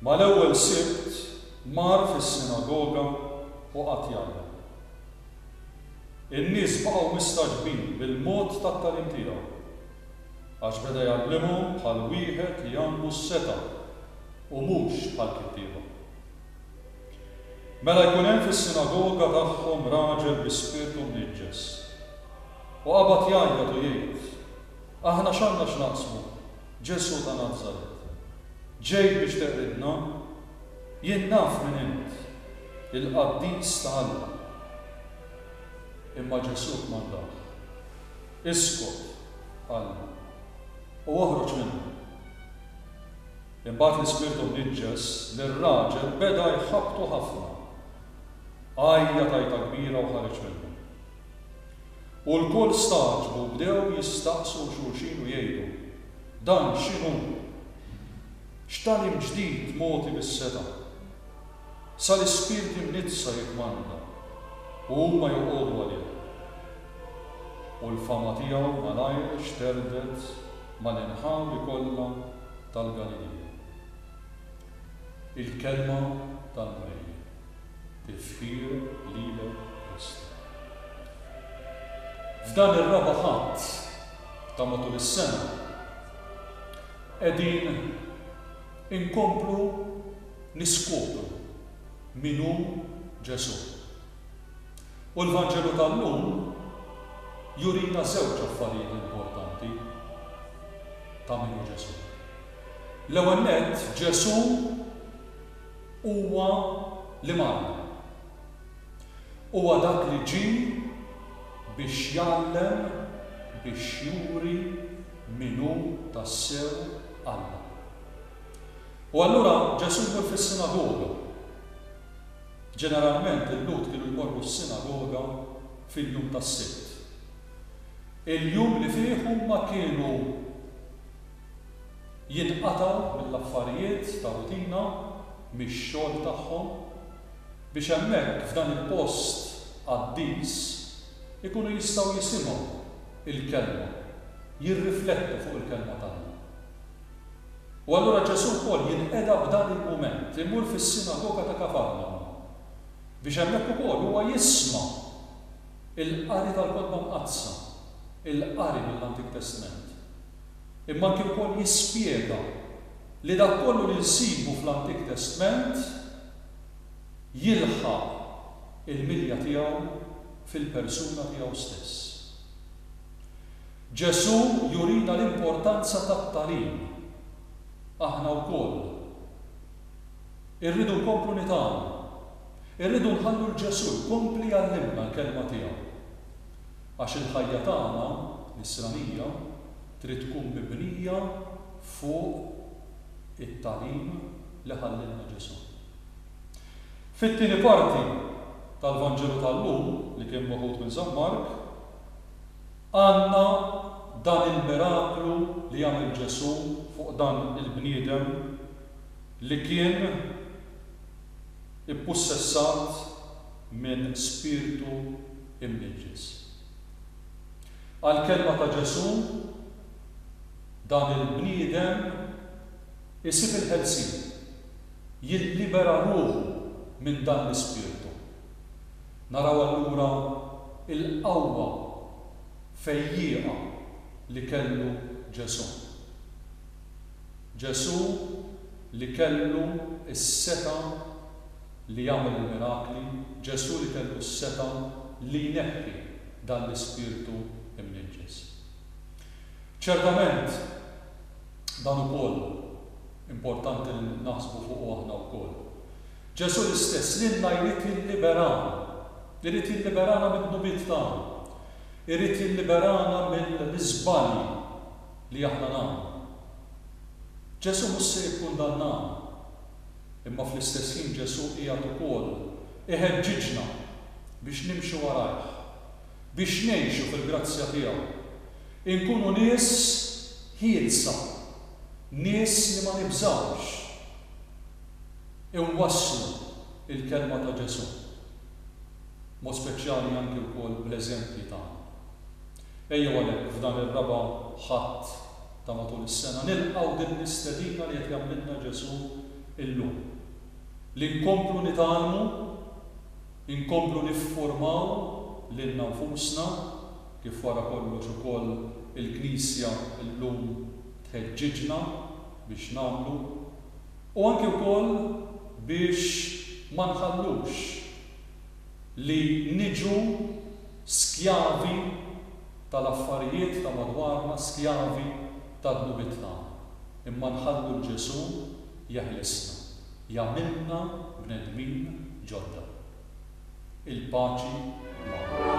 Mal-ewwel Sibt mar fis-sinagoga u qagħad jgħallem. In-nies baqgħu mistagħġbin bil-mod tat-tagħlim tiegħu, għax beda jgħallimhom bħal wieħed li għandu s-setgħa u mhux bħall-kittieba. Mela jkun hemm fis-sinagoga tagħhom raġel bi spirtu mniġġes. U qabad jgħajjat u jgħid, Aħna x'għandna x'naqsmu? Ġesù ta' Nazaret, ġejt biex teqridna? Jien naf min int, il-qaddis ta' Alla. Imma Ġesù kmandah, Iskot, qallu, u oħroġ minnha. Imbagħad l-ispirtu mniġġes lir-raġel beda jħabbtu ħafna. Għajjat għajta kbira u ħareġ minnu. U lkoll stagħġbu u bdew jistaqsu xulxin u jgħidu, Dan x'inhu? X'tagħlim ġdid mogħti bis-setgħa? Sa l-ispirti mniddsa jikkmanda, u huma joqogħdu għalih. U l-fama tiegħu malajr xterdet mal-inħawi kollha tal-Galilija. Il-Kelma tal-Mulej. Tifħir lilek Kristu. F'dan ir-Raba' Ħadd ta' matul is-sena qegħdin inkomplu niskopru min hu Ġesù. U l-Vanġelu tal-lum jurina żewġ affarijiet importanti ta' min hu Ġesù. L-ewwel nett, Ġesù Huwa li magħna. Huwa dak li ġie biex jgħallem, biex juri min hu tassew Alla. U allura Ġesù jmur fis-sinagoga. Ġeneralment il-Lhud kienu jmorru s-sinagoga fil-jum tas-Sibt. Il-jum li fih huma kienu. jinqatgħu mill-affarijiet ta' rutina, mix-xogħol tagħhom, biex hemmhekk f'dan il-post qaddis ikunu jistgħu jisimgħu l-Kelma, jirriflettu fuq il-Kelma t'Alla. U allura Ġesù wkoll jinqeda f'dan il-mument, imur fis-sinagoga ta' Kafarnawm, biex hemmhekk ukoll huwa jisma' l-qari tal-Kotba Mqaddsa, il-qari mill-Antik Testment. imma anki wkoll jispjega li dak kollu li nsibu fl-Antik Testment jilħaq il-milja tiegħu fil-persuna tiegħu stess. Ġesù jurina l-importanza tat-tagħlim. Aħna wkoll irridu nkomplu nitgħallmu. Irridu nħallu 'l Ġesù jkompli jgħallimna l-Kelma tiegħu. Għax il-ħajja tagħna, nisranija, trid tkun mibnija fuq it-tagħlim li ħallielna Ġesù. Fit-tieni parti tal-Vanġelu tal-lum, li kien meħud minn San Mark, għandna dan il-miraklu li għamel Ġesù fuq dan il-bniedem li kien, ippussessat minn spirtu imniġġes. Għall-kelma ta' Ġesù, dan il-bniedem isib il-ħelsien, jillibera ruħu minn dan l-ispirtu. Naraw allura l-qawwa fejjieqa li kellu Ġesù. Ġesù li kellu s-setgħa li jagħmel il-mirakli, Ġesù li kellu s-setgħa li jneħħi dan l-ispirtu mniġġes. Ċertament, dan ukoll importanti li naħsbu fuqu aħna wkoll. Ġesù l-istess lilna jrid jilliberana, irid jilliberana mid-dnubiet tagħna, irid jilliberana mill-iżbalji. li aħna nagħmlu. Ġesù mhux se jikkundannana, imma fl-istess ħin Ġesù qiegħed ukoll iħeġġiġna biex nimxu warajh, biex ngħixu fil-grazzja tiegħu, inkunu nies ħielsa, nies li ma nibżgħux inwasslu l-kelma ta' Ġesù, b'mod speċjali anki wkoll bl-eżempji tagħna. Ejjew għalhekk f'dan ir-raba' Ħadd ta' matul is-sena nilqgħu din l-istedina li qed jagħmlilna Ġesù illum, li nkomplu nitgħallmu, inkomplu niffurmaw lilna nfusna, kif wara kollox ukoll il-Knisja llum tħeġġiġna biex nagħmlu, u anki wkoll biex ma nħallux li niġu Skjavi tal-affarijiet ta' madwarna, skjavi ta' dnubitna, imma nħallu 'l Ġesù jeħlisna, jagħmilna bnedmin ġodda. Il-paċi magħkom.